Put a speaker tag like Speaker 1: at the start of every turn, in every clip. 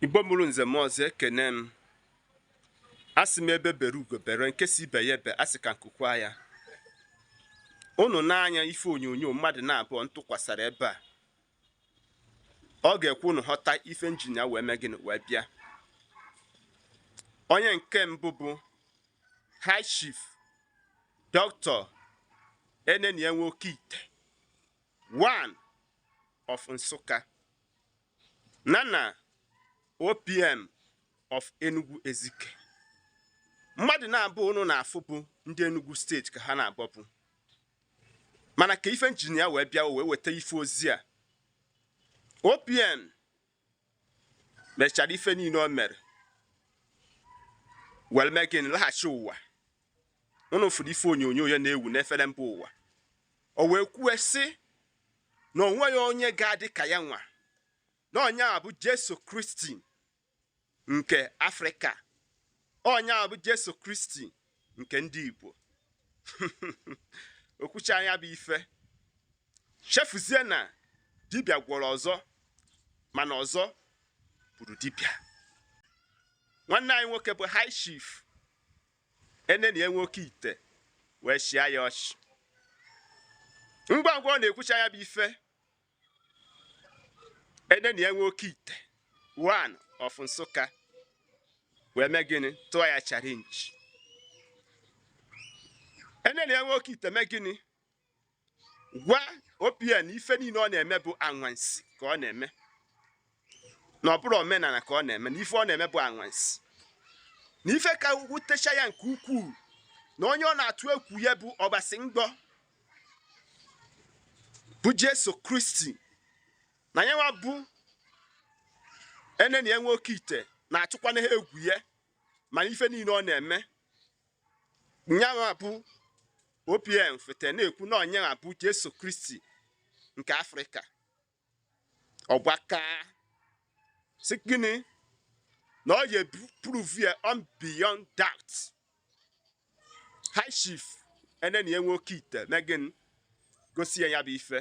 Speaker 1: igbo mụrụ nze mụọ ọzọ ekene m asị m egbe bere ugo bere nke sị ibe ya ebena sị ka nku kwaa ya unu nee anya ife onyonyo mmadụ na-abụọ m tụkwasara ebe a ọ ga-ekwe unu ghọta ife m ji nịa wee mee gịnị wee bịa onye nke mbụ bụ high chief dọkịta enenia nwoke ite one of nsụka Nya na OPM of Enugu Ezike mmadụ naabọ ụnụ na-afụ bụ ndị Enugu steeti ka ha naabọ bụ mana ka ife m ji nịa wee bịa wee weta ife ozi a OPM mechara ife niile o mere were mee gịnị laghachi ụwa ụnụ fụrụ ife onyonyo ya na-ewu n'efere mba ụwa o wee kwue sị na o nweghị onye ga-adị ka ya nwa na onye a bụ Jesu Kristi nke Afrịka onye a bụ Jesu Kristi nke ndị Igbo o kwuchaa nya bụ ife chefuzie na dibịa gwọrọ ọzọ mana ọzọ gburu dibịa nwanne anyị nwoke bụ high chief Enenia nwoke ite wee chịa ya ọchị. Ngwa ngwa ọ na-ekwucha ya bụ ife, Enenia nwoke ite one of Nsụka wee mee gịnị tụọ ya challenge. Enenia nwoke ite mee gịnị gwa OPM ife niile ọ na-eme bụ anwansi ka ọ na-eme na ọ bụrọ omenala ka ọ na-eme na ife ọ na-eme bụ anwansi na ife ka wutecha ya nke ukwuu na onye ọ na-atụ egwu ya bụ ọbasi ngbọ bụ Jesu Kristi na ya nwa bụ Enenia nwoke ite na-atụkwana ha egwu ya mana ife niile ọ na-eme nya nwa bụ opm fete na-ekwu na ọ nya nwa bụ jesu kristi nke afrịka ọ gbaa aka sị gịnị na ọ ya prove ya wrong beyond doubt high chief enenia nwoke ite mee gịnị gosi ya ya bụ ife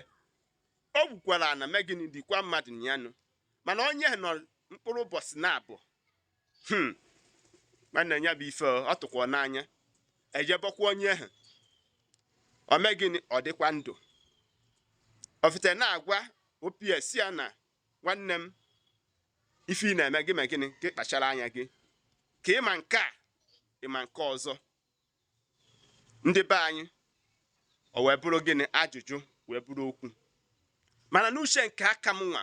Speaker 1: o gwukwara ana mee gịnị nikwa mmadụ nyanụ mana onye nọ mkpụrụ ụbọchị naabọ hmm. nwanne ya bụ ife ọ tụkwa n'anya e je bọkwa onye ahụ ọ mee gịnị ọ dịkwa ndụ o fete na-agwa opm sị ya na nwanne m ife ị na-eme gị mee gịnị gị kpachara anya gị ka ị ma nke a ị ma nke ọzọ ndị be anyị o wee bụrụ gịnị ajụjụ wee bụrụ okwu mana n'uche nke aka m nwa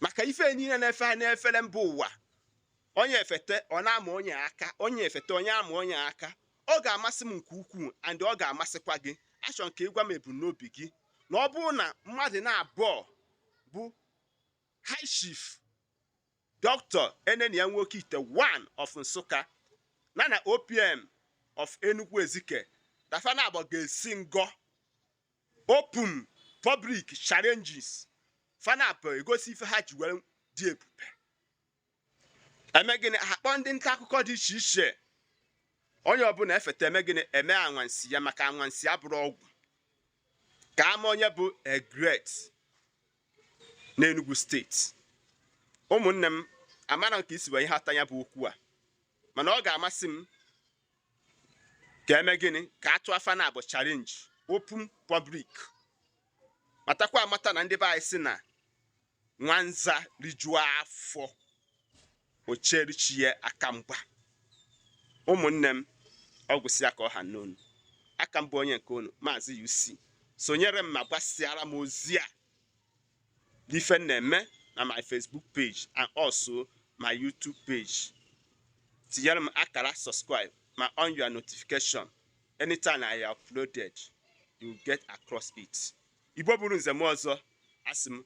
Speaker 1: maka ife niile na-efe anyị n'efere mba ụwa onye efete ọ na-ama onye aka onye efete onye ama onye aka ọ ga-amasị m nke ukwuu and ọ ga-amasịkwa gị achọ nke ịgwa m ebumnobi gị na ọ bụrụ na mmadụ naabọ bụ high chief dr enenia nwoke ite one of Nsukka na na opm of enugu ezike na fa naabọ ga-esi ngọ open public challenges fa naabọ egosi ife ha ji were dị ebube eme gịnị ha kpọọ ndị nta akụkọ dị iche iche onye ọbụla efeta eme gịnị eme anwansi ya maka anwansi abụrọ ọgwụ ka a ma onye bụ the great n'Enugu steeti ụmụnne m amarọ m ka i si wee hụta ya bụ okwu a mana ọ ga-amasị m ka eme gịnị ka a tụọ fa naabọ challenge open public matakwa amata na ndị be anyị si na nwanza rijuo afọ o cheere chi ya aka mgba ụmụnne m ọ gwụsịa ka ọ ha m n'ọnụ aka m bụ onye nke unu maazị UC sonyere m ma gbasịara m ozi a n'ife m na-eme na my Facebook page and also my YouTube page tinyere m akara subscribe ma on your notification anytime I uploaded you get across it igbo mụrụ nze mụọ ọzọ asị m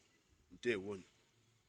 Speaker 1: ndewonu